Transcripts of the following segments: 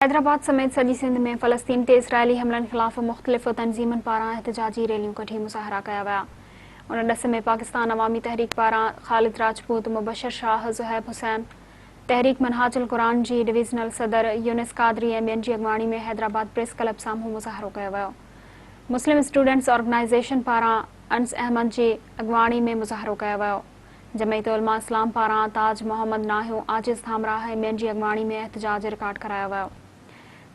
حيدرآباد سميت سڄي سنڌ ۾ فلسطين تي اسرائيلي حملن خلاف مختلف تنظيمن پاران احتجاجي ريليون ڪڍي مظاهرا ڪيا ويا. ان ڏس ۾ پاڪستان عوامي تحريڪ پاران خالد راجپوت، مبشر شاهه، زحيب حسين، تحريڪ منهاج القرآن جي ڊويزنل صدر يونس قادري ۽ ٻين جي اڳواڻي ۾ حيدرآباد پريس ڪلب سامهون مظاهرو ڪيو ويو. مسلم اسٽوڊنٽس آرگنائيزيشن پاران انس احمد جي اڳواڻي ۾ مظاهرو ڪيو ويو. جمعيت علماء اسلام پاران تاج محمد ناهيو، عاجز ٿامراهه ۽ ٻين جي اڳواڻي ۾ احتجاج رڪارڊ ڪرايو ويو.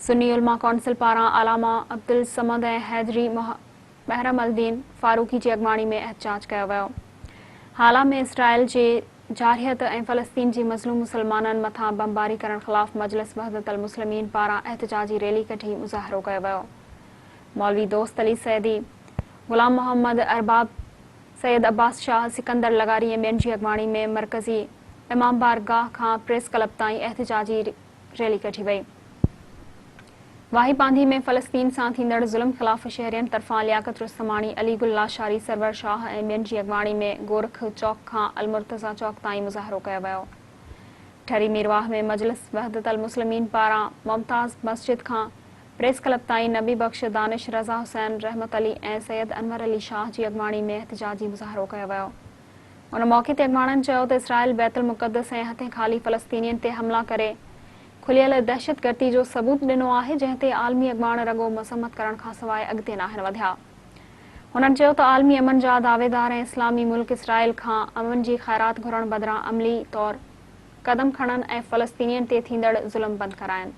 سني علماء ڪونسل پاران علامه عبدالصمد ۽ حيدري محرم الدين فاروقي جي اڳواڻي ۾ احتجاج ڪيو ويو. هالا ۾ اسرائيل جي جارحيت ۽ فلسطين جي مظلوم مسلمانن مٿان بمباري ڪرڻ خلاف مجلس وحدت المسلمين پاران احتجاجي ريلي ڪڍي مظاهرو ڪيو ويو. مولوي دوست علي سيدي، غلام محمد ارباب، سيد عباس شاهه، سڪندر لغاري ۽ ٻين جي اڳواڻي ۾ مرڪزي امام بار گاهه کان پريس ڪلب تائين احتجاجي ريلي ڪڍي وئي. واهي پانڌي ۾ فلسطين سان ٿيندڙ ظلم خلاف شهرين طرفان لياقت رستماڻي، علي گل لاشاري، سرور شاهه ۽ ٻين جي اڳواڻي ۾ گورک چوڪ کان المرتضيٰ چوڪ تائين مظاهرو ڪيو ويو. ٺري ميرواهه ۾ مجلس وحدت المسلمين پاران ممتاز مسجد کان پريس ڪلب تائين نبي بخش، دانش، رضا حسين، رحمت علي ۽ سيد انور علي شاهه جي اڳواڻي ۾ احتجاجي مظاهرو ڪيو ويو. ان موقعي تي اڳواڻن چيو ته اسرائيل بيت المقدس ۽ هٿين خالي فلسطينين تي حملا ڪري کليل دهشتگردي جو ثبوت ڏنو آهي جنهن تي عالمي اڳواڻ رڳو مذمت ڪرڻ کانسواء اڳتي ناهن وڌيا. هنن چيو ته عالمي امن جا دعويدار ۽ اسلامي ملڪ اسرائيل کان امن جي خيرات گهرڻ بدران عملي طور قدم کڻن ۽ فلسطينين تي ٿيندڙ ظلم بند ڪرائن.